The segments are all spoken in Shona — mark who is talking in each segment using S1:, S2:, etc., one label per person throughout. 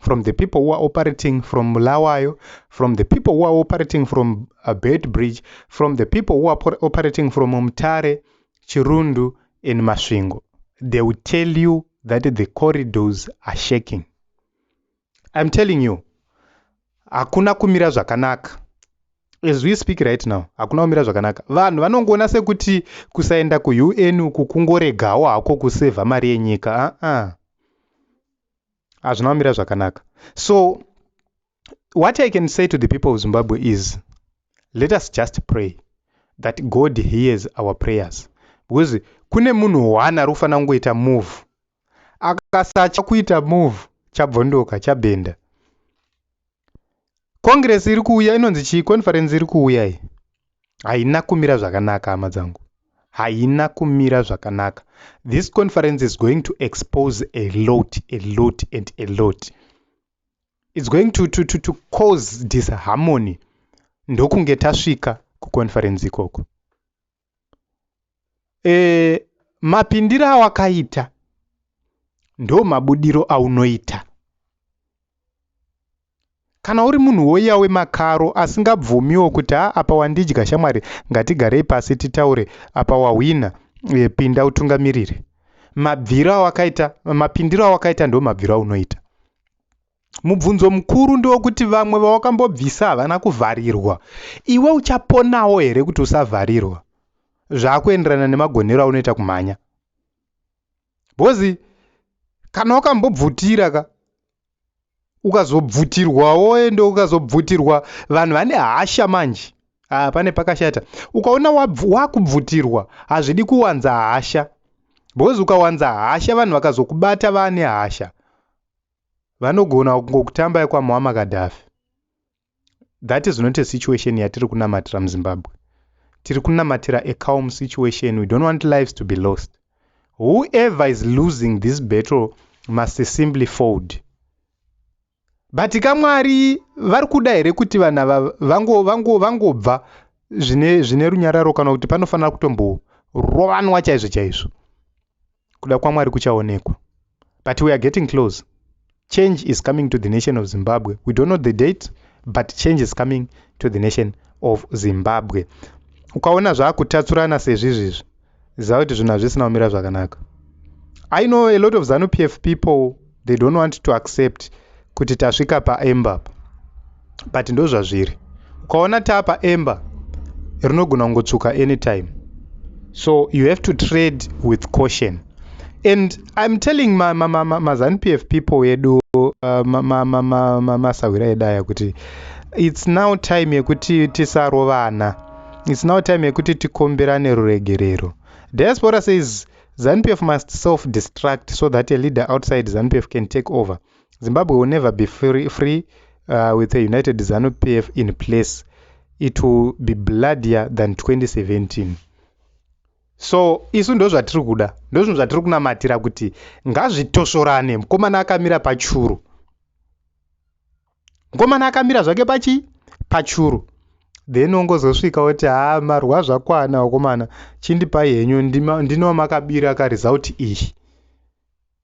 S1: from the people who are operating from Bulawayo, from the people who are operating from uh, Beitbridge, from the people who are operating from Mutare, Chirundu, and Masvingo. They will tell you that the corridors are shaking. I'm telling you, hakuna kumira zvakanaka. As we speak right now, hakuna kumira zvakanaka. Vanhu vanongoona sekuti kusaenda kuUN uku kungoregawo hako kusevha mari yenyika. Uh-uh. hazvina kumira zvakanaka so what i can say to the people of zimbabwe is let us just pray that god hears our prayers because kune munhu one ari kufanira kungoita move akasatya kuita move chabvondoka chabhenda congress iri kuuya inonzi chii conference iri kuuya iyi haina kumira zvakanaka hama dzangu haina kumira zvakanaka this conference is going to expose a lot a lot and a lot it's going to, to, to, to cause disharmony ndokunge tasvika kuconference ikoko e, mapindiro awakaita ndo mabudiro aunoita kana uri munhu woiya wemakaro asingabvumiwo kuti ha apa wandidya shamwari ngatigarei pasi titaure apa wahwina e, pinda utungamirire mabviro awakaita mapindiro awakaita ndo mabviro aunoita Mubvunzo mukuru ndewokuti vamwe vawakambobvisa havana kuvharirwa. Iwe uchaponawo here kuti usavharirwa? Zvakuenderana nemagonero aunoita kumhanya. Bozi kana wakambobvutira ka ukazobvutirwawo ende ukazobvutirwa vanhu vane hasha manje ah, pane pakashata ukaona wakubvutirwa hazvidi kuwanza hasha because ukawanza hasha vanhu vakazokubata vane hasha vanogona kungokutambai kwamuama kadhafi that is not a situation yatiri kunamatira muzimbabwe tiri kunamatira a calm situation we don't want lives to be lost whoever is losing this battle must simply fold but kamwari vari kuda here kuti vanhu ava vangobva zvine runyararo kana kuti panofanira kutomborowanwa chaizvo chaizvo Kuda kwaMwari kuchaonekwa. But we are getting close. Change is coming to the nation of Zimbabwe. We don't know the date, but change is coming to the nation of Zimbabwe. Ukaona zvaakutatsurana sezvizvizvi, ziva kuti zvinhu hazvisina kumira zvakanaka. I know a lot of ZanuPF people they don't want to accept kuti tasvika paemba apa but ndozvazviri ukaona tapa emba rinogona kungotsvuka anytime so you have to trade with caution and im telling mazanupf ma, ma, ma people edu masahwira uh, ma, ma, ma, edu aya kuti its now time yekuti tisarovana its now time yekuti tikombirane ruregerero diaspora says Zanupf must self destruct so that a leader outside zanupf can take over Zimbabwe will never be free, free uh, with a united zanupf in place it will be bloodier than 2017 so isu ndozvatiri kuda ndozvinhu zvatiri kunamatira kuti ngazvitosvorane mukomana akamira pachuru mkomana akamira zvake pachii pachuru then ongozosvika oti haa marwa zvakwana vakomana chindipai henyu ndinowa makabira karesult iyi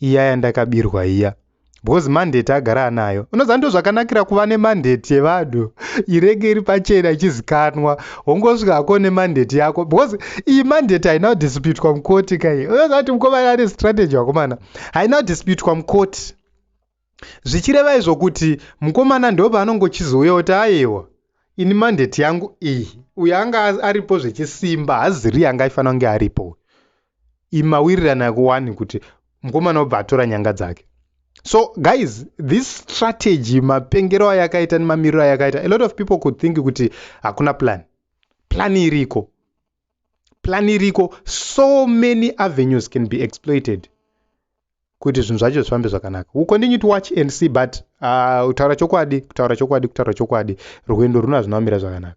S1: iya yandakabirwa iya because mandate agara anayo unoziva ndo zvakanakira kuva nemandate yevanhu irege iri pachena ichizikanwa wongosvika hako nemandate yako because iyi mandate haina kudisputwa mukoti kai unoziva kuti mukomana ane strategy wakomana haina kudisputwa mukoti Zvichireva izvo kuti mukomana ndopaanongo chizouya oti ayewa ini mandate yangu iyi uyo anga aripo zvechisimba haziri anga aifanira kunge aripo uyu imawirirana kuwani kuti mukomana obva atora nyanga dzake so guys this strategy mapengero ayakaita nemamiriro ayakaita a lot of people could think kuti hakuna plan plan iriko plan iriko so many avenues can be exploited kuti zvinhu zvacho zvifambe zvakanaka u continue to watch and see but uh, kutaura chokwadi kutaura chokwadi kutaura chokwadi rwendo runo hazvina kumira zvakanaka